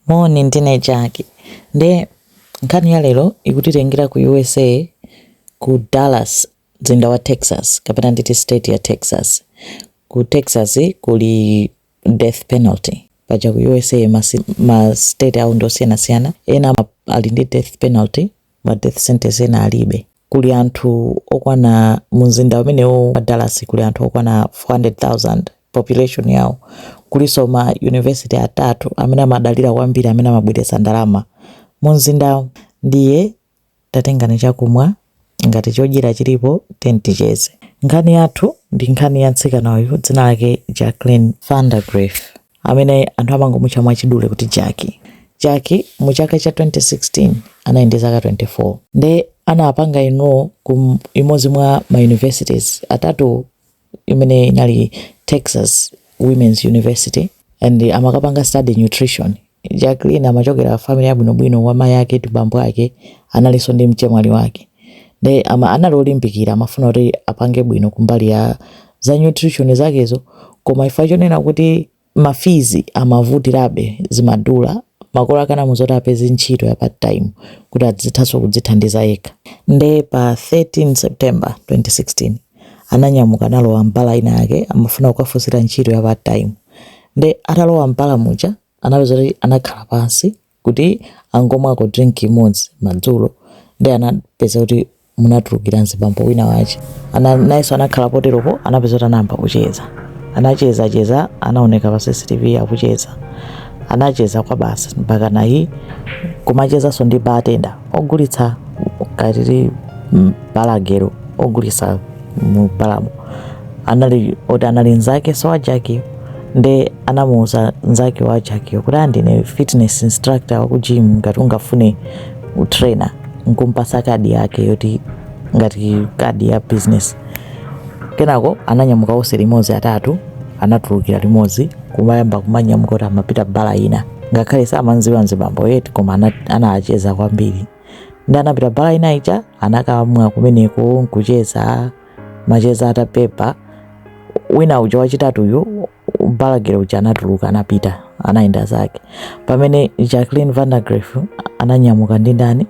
Moni, ndine Jack. Nde nkhani ya lero ikutitengera ku USA ku Dallas, mzinda wa Texas kapena nditi state ya Texas. Ku Texas kuli death penalty. Paja ku USA ma, ma state awo ndi osiyanasiyana, ena ali ndi death penalty ma death sentence ena alibe. kuli anthu okwana mu mzinda umenewo wa Dallas kuli anthu okwana 400,000 population yawo, kulinso ma university atatu amene amadalira kwambiri amene amabweretsa ndalama mu mzinda ndiye tatengani chakumwa ngati chodyera chilipo tiyeni ticheze. Nkhani yathu ndi nkhani ya mtsikana uyu dzina lake Jacqueline Vandergriff. amene anthu amangomutcha mwachidule kuti Jackie. Jackie mu chaka cha 2016 anali ndi zaka 24 nde anapanga enroll ku imodzi mwa ma universities atatu imene inali Texas Women's University and amakapanga study nutrition. Jacqueline amachokera family yabwinobwino wa mayi ake ndi bambo ake analinso ndi mchemwali wake. nde ama anali olimbikira amafuna kuti apange bwino kumbali ya za nutrition zakezo koma chifukwa chonena kuti ma fees amavutirabe zimadula makolo ake anamuuza kuti apeze ntchito ya part time kuti adzithanso kudzithandiza yekha nde pa 13 september 2016 ananyamuka analowa m'bala ina yake amafuna kukafunsira ntchito ya part time nde atalowa m'bala muja anapeza kuti anakhala pansi kuti angomwako drink imodzi madzulo nde anapeza kuti munatulukira mzibambo wina wache ana, nayenso anakhala poteropo anapeza kuti anayamba kucheza anacheza cheza anaoneka pa cctv akucheza anacheza kwa basi mpakana kumachezanso ndi bartender ogulitsa katili mm, bar girl ogulitsa mu balamo anali oti anali nzakenso wa Jackie nde anamuuza nzake wa Jackie kuti aa ndine fitness instructor wa ku gym ngati ungafune utrainer nkumpasa kadi yake yoti ngati kadi ya business kenako ananyamuka onse limodzi atatu anatulukira limodzi kumayamba kumanyamuka kuti amapita bala ina ngakhale samamdziwa nzibamboyu eti koma ana- anacheza kwambiri nde anapita bala ina ija anakamwa kumeneko nkucheza macheza atabeba wina uja wachitatuyu bar girl uja anatuluka anapita anayenda zake pamene jacqueline vandergriff ananyamuka ndi ndani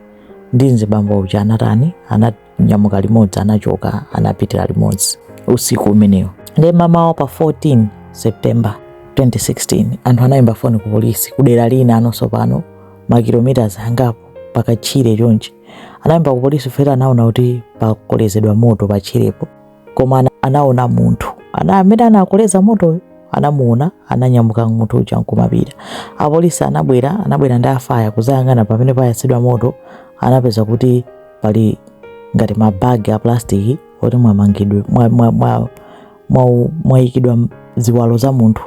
ndi mzibambo uja anatani ana nyamuka limodzi anachoka anapitira limodzi usiku umenewo nde mamawa pa 14 september 2016 anthu anayimba foni ku polisi kudera lina anonso pano makilomitas angapo pakatchire chonchi anayimba ku polisi chifukwa anaona kuti pakolezedwa moto patchirepo koma anaona munthu amene anakoleza motoyo anamuona ananyamuka munthu uja nkumapita apolisi anabwera anabwera ndi afaya kuzayang'ana pamene payatsidwa moto anapeza kuti pali ngati mabagi a plastiki oti mwamangidwe mwayikidwa ziwalo za munthu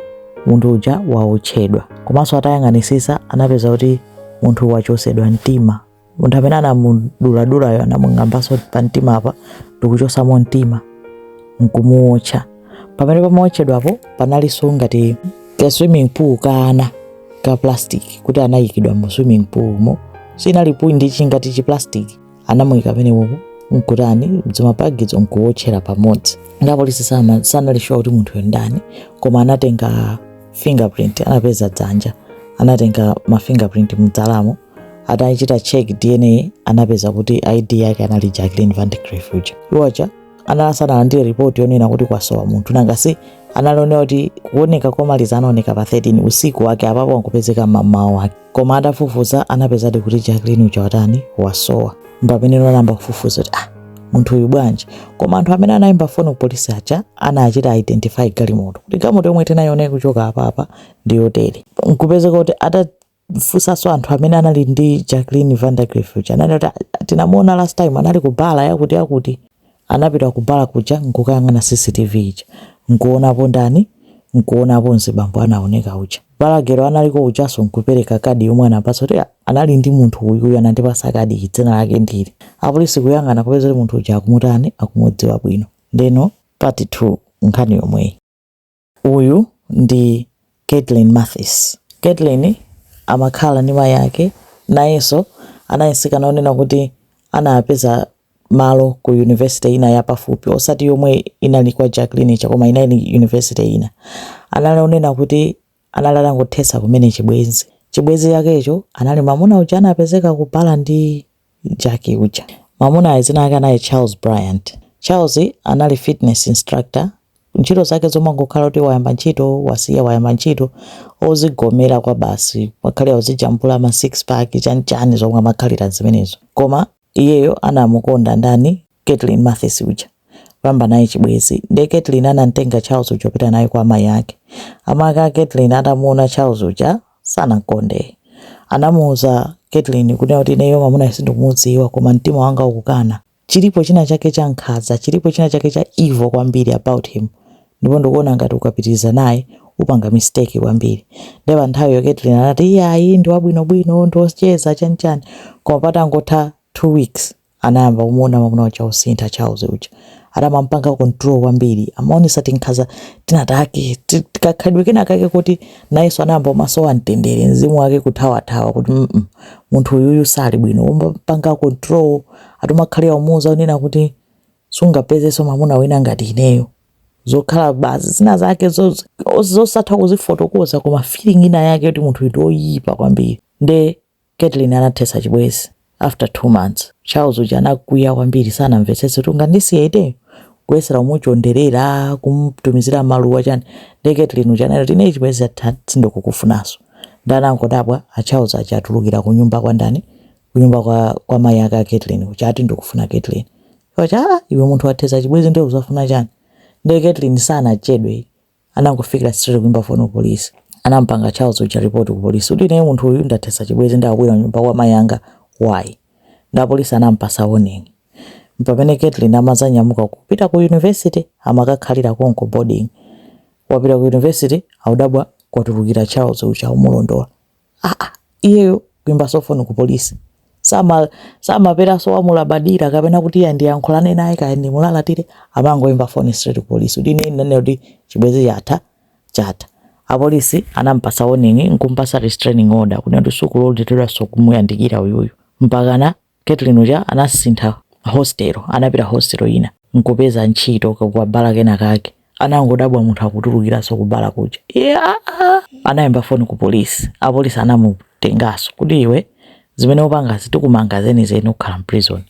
munthu uja waotchedwa komanso atayang'anisisa anapeza kuti munthu wachosedwa mtima munthu amene anamuduladulayo anamung'ambanso pa mtima apa ndikuchosamo mtima nkumuwotcha pamene pamawotchedwapo panalinso ngati ka swimming pool kana ka plastic kuti anayikidwa mu swimming pool mo sinali pool ndi chingati chi plastic anamuyika pamenepo nkutani mdzimapagidzo nkuwotchera pamodzi nde apolisi sanali shuwa kuti munthuyo ndani koma anatenga fingerprint anapeza dzanja anatenga ma fingerprint mdzalamo atachita check dna anapeza kuti id yake anali jacqueline vandergriff uja iwo aja anali asanalandire ripoti yonena kuti kwasowa munthu nanga si anali onena kuti kuoneka komaliza anaoneka pa 13 usiku wake apapo ankupezeka mmamawa wake koma atafufuza anapezadi kuti jacqueline uja watani wasowa mpamene anayamba kufufuza kuti ah munthu uyu bwanji koma anthu amene anayimba foni ku polisi aja anachita identify galimoto kuti galimoto yomwe tinayiona kuchoka apapa ndi yotere nkupezeka kuti ata funsanso anthu amene anali ndi Jacqueline Vandergriff uja anali kuti "Ah, tinamuona last time anali ku bala yakuti yakuti anapita ku bala kuja nkukayang'ana CCTV ija nkuonapo ndani nkuonapo mzibambo anaoneka uja balagero analiko ujaso nkupereka kadi yomwe anampasa kuti "Ah, anali ndi munthu uyu uyu anandipasa kadi iyi, dzina lake ndi ili apolisi kuyang'ana kupeza kuti munthu uja akumutani akumudziwa bwino ndeno part 2 nkhani yomweyi Uyu ndi Kaitlyn Mathis. Kaitlyn amakhala ndi mayi ake. Nayenso anali mtsikana wonena kuti anapeza malo ku yunivesite ina yapafupi, osati yomwe inali kwa Jacqueline ija koma inali yunivesite ina. Anali wonena kuti anali atangothetsa kumene chibwenzi. Chibwenzi chakecho anali mwamuna uja anapezeka kubala ndi Jackie uja. Mwamunayo dzina lake anali Charles Bryant. Charles anali fitness instructor. Ntchito zake zomangokhala kuti wayamba ntchito, wasiya, wayamba ntchito, ozigomera kwabasi. Amakhalira uzijambula ma six pack, chani chani zomwe amakhalira zimenezo. Koma iyeyo anamukonda ndani? Kaitlyn Mathis uja. Kuyamba naye chibwezi. Ndiye Kaitlyn anamtenga Charles uja kupita naye kwa amayi ake. Amake a Kaitlyn atamuona Charles uja sanamkonde. Anamuuza Kaitlyn kunena kuti ineyo mwamunayo sindikumudziwa koma mtima wanga ukukana. Chilipo china chake cha nkhaza, chilipo china chake cha evil kwambiri about him. Ndipo ndikuona ngati ukapitiriza naye upanga mistake kwambiri. Ndiye pa nthawiyo Kaitlyn anati iyayi ndi wabwinobwino, ndi wocheza chanichani. Koma patangotha two weeks Anayamba kumuona mwamuna uja wosintha Charles uja. Atamamupanga control kwambiri. Amaonesa tinkhaza tina take. Kakhalidwe kena kake koti nayenso anayamba kumasowa mtendere. Mzimu wake kuthawathawa kuti mm -mm. Munthu uyuyu sali bwino. Umpanga control. Ati umakhalira umuuza kunena kuti sungapezeso mwamuna wina ngati ineyo. Zokhala basi zina zake zo, zosatha kuzifotokoza koma feeling ina yake yoti munthu uyu ndi oyipa kwambiri. Nde Katelyn anathetsa chibwezi after 2 months. Charles uja anakwiya kwambiri sanamvetsetse kuti ungandisiye ineyo? Kuyesera kumuchonderera, kumutumizira maluwa chani. Ndiye Katelyn uja ananena kuti ineyo chibwezi chatha sindikukufunanso. Ndiye anangodabwa a Charles aja atulukira kunyumba kwa ndani? Kunyumba kwa, kwa mayi ake a Katelyn uja ati ndikufuna Katelyn. Iwo aja aa iwe munthu wathetsa chibwezi ndiye uzafuna chani? Ndiye Katelyn sanachedwe anangofikira straight kuyimba foni ku polisi anampanga Charles uja report ku polisi kuti ineyo munthu uyu ndathesa chibwezi nde akubwera nyumba kwa mayi anga why nde apolisi anampasa warning mpamene Caitlyn amazanyamuka kupita ku university amakakhalira konko boarding wapita ku university audabwa kwatulukira Charles uja umulondola ah, ah, iyeyo kuimbaso foni ku polisi sama samapangaso zomulabadira kapena kuti iya ndiyankhulane naye kaya ndimulalatire amangoimba foni straight ku polisi kuti ine ndinanena kuti chibwezi chatha chatha apolisi anampasa warning nkumpasa restraining order kunena kuti sukuloledwanso kumuyandikira uyuyu mpakana Katelyn uja anasintha hostel anapita hostel ina nkupeza ntchito ku bala kena kake anangodabwa munthu akutulukiranso kubala kuja iye aa anayimba foni ku polisi apolisi anamutenganso kuti iwe zimene upangazi tikumanga zenizeni ukhala mprison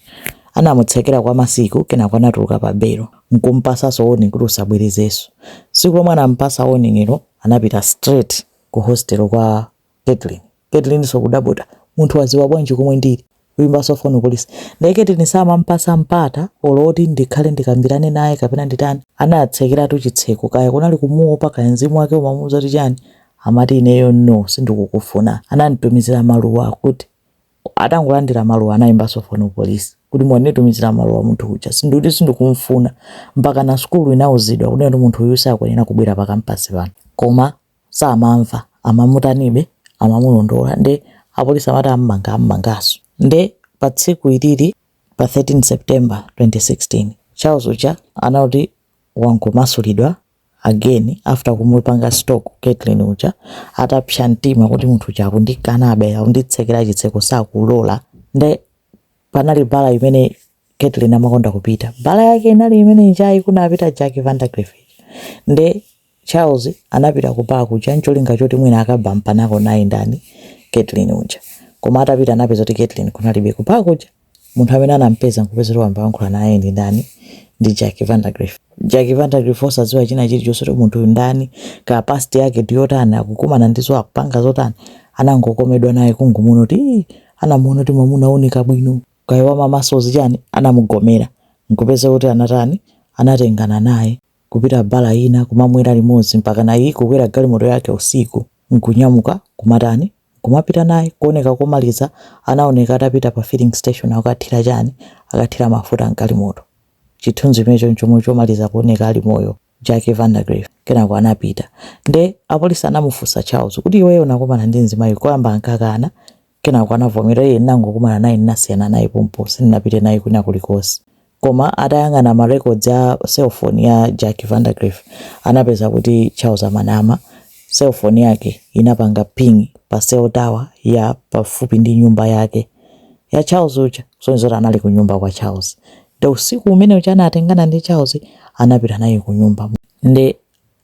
anamutsekera kwa masiku kenako anatuluka pa belo nkumpasanso warning kuti usabwerezenso tsiku lomwe anampasa warning'lo anapita straight ku hostel kwa Kaitlyn Kaitlynso kudabwa kuti munthu waziwa bwanji komwe ndili kuyimbaso phone kupolis nde Kaitlyn samampasa mpata olo oti ndikhale ndikambilane naye kapena nditani anatsekelatu chitseko kaya kunali kumuopa kaya nzimu wake umamuuza kuti chani amati ineyo no sindikukufuna anamutumizila maluwa kuti atangolandila maluwa anayimbaso phone kupolis kuti wanditumizila maluwa munthu uja ndikuti sindikumufuna mpakana sukulu inauzidwa kunena kuti munthu uyu sakwenela kubwela pa campus pano koma samamva amamutanibe amamulondola nde apolisi amati ammanga ammangaso nde pa tsiku ilili pa 13 September 2016 Charles uja anati wangomasulidwa again after kumupanga stalk Kaitlyn uja atapsa mtima kuti munthu uja akundikanabe akunditsekera chitseko sakulola nde panali bala imene Kaitlyn amakonda kupita bala yake inali imene ija yi kunapita Jackie Vandagriff nde Charles anapita ku park kuja ncholinga choti mwina akabampanako naye ndani Kaitlyn uja. Koma atapita anapeza kuti Kaitlyn kunalibe ku park kuja. Munthu amene anampeza nkupeza kuti wayamba kuyankhula naye ndi ndani ndi Jackie Vandergriff. Jackie Vandergriff osadziwa china chilichonse kuti munthu uyu ndani kaya past yake ndi yotani akukumana ndi zo akupanga zotani anangokomedwa naye kungomuona kuti anamuona kuti mwamuna wooneka bwino kaya wamamasozi chani anamugomera nkupeza kuti anatani anatengana naye. kupita bala ina kumamwera limodzi mpakana naye kukwera galimoto yake usiku nkunyamuka nkumatani nkumapita naye kuoneka komaliza anaoneka atapita pa filling station akathira chani akathira mafuta mgalimoto chithunzi chimenecho chomwe chomaliza kuoneka ali moyo Jackie Vandergriff kenako anapita nde apolisi anamufunsa Charles kuti iweyo unakumana ndi mzimayi koyamba ankakana Kenako anavomera, iye ndinangokumana naye ndinasiyana naye pompo, sindinapite naye kwina kulikonse. Koma atayang'ana ma records a cell phone ya Jackie Vandergriff anapeza kuti Charles amanama, cell phone yake inapanga ping pa cell tower ya pafupi ndi nyumba yake ya Charles uja, kusonyeza kuti anali kunyumba kwa Charles. Nde usiku umene uja anatengana ndi Charles anapita naye kunyumba. Nde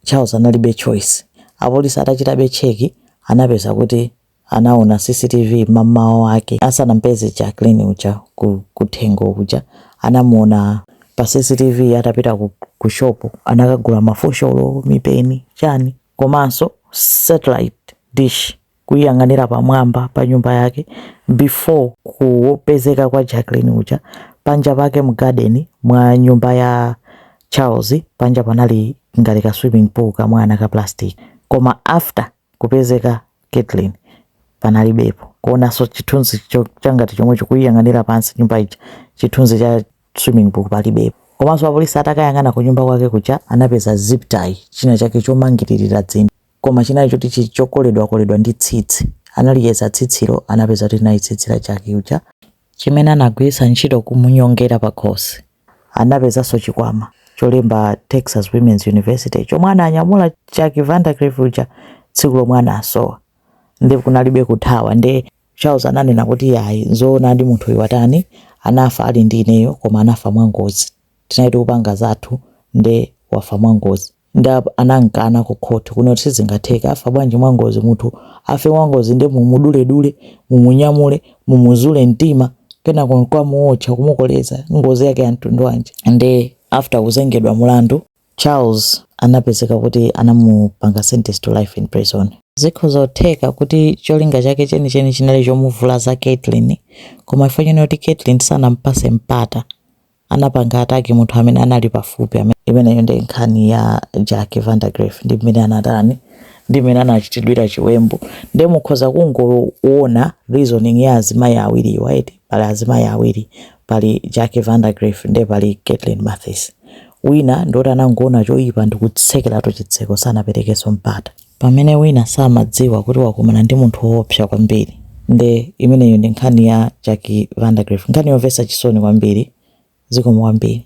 Charles analibe choice. Apolisi atachitabe check anapeza kuti anaona CCTV mammawa wake asanampeze Jacqueline uja kuthengo kuja anamuona pa CCTV atapita ku ku shop anakagula mafosholo, mipeni, chani komanso satellite dish kuyang'anira pamwamba pa nyumba yake before kupezeka kwa Jacqueline uja panja pake mu garden mwa nyumba ya Charles panja panali ngati ka swimming pool kamwana ka plastic koma after kupezeka Kaitlyn panalibepo kuonanso chithunzi changati chomwecho kuyang'anira pansi nyumba ija chithunzi cha swimming pool palibepo komanso apolisi atakayang'ana ku nyumba kwake kuja anapeza zip tie china chake chomangiririra dzino koma chinali choti chili chokoledwakoledwa ndi tsitsi ataliyeza tsitsilo anapeza kuti linali tsitsi la Jackie uja chimene anagwiritsa ntchito kumunyongera pakhosi. Anapezanso chikwama cholemba Texas Women's University chomwe ananyamula Jackie Vandergriff uja tsiku lomwe anasowa. Nde kunalibe kuthawa nde Charles ananena kuti yayi nzoonadi munthuyu watani anafa ali ndi ineyo koma anafa mwangozi. Tinali tikupanga zathu nde wafa mwangozi. nde apa anamkana ku court kunena kuti sizingatheke afa bwanji mwangozi munthu afe mwangozi nde mumuduledule mumunyamule mumuzule mtima kenako nkukamuotcha kumukoleza ngozi yake ya mtundu wanji nde after kuzengedwa mulandu charles anapezeka kuti anamupanga sentence to life in prison zikhoza kutheka kuti cholinga chake chenicheni chinali chomuvulaza caitlin koma chifukwa chonena kuti caitlin sanampase mpata anapanga ataki munthu amene anali pafupi. Imeneyo nde nkhani ya Jackie Vandagriff ndi mmene anatani ndi mmene anachitidwira chiwembu nde mukhoza kungowona reasoning ya azimayi awiri right pali azimayi awiri pali Jackie Vandagriff nde pali Caitlin Mathis wina ndi oti anangowona choyipa ndikutsekeratu chitseko sanaperekeso mpata Pamene wina samadziwa kuti wakumana ndi munthu woopsa kwambiri. Nde imeneyo ndi nkhani ya Jackie Vandagriff. Nkhani yomvesa chisoni kwambiri. Zikomo kwambiri.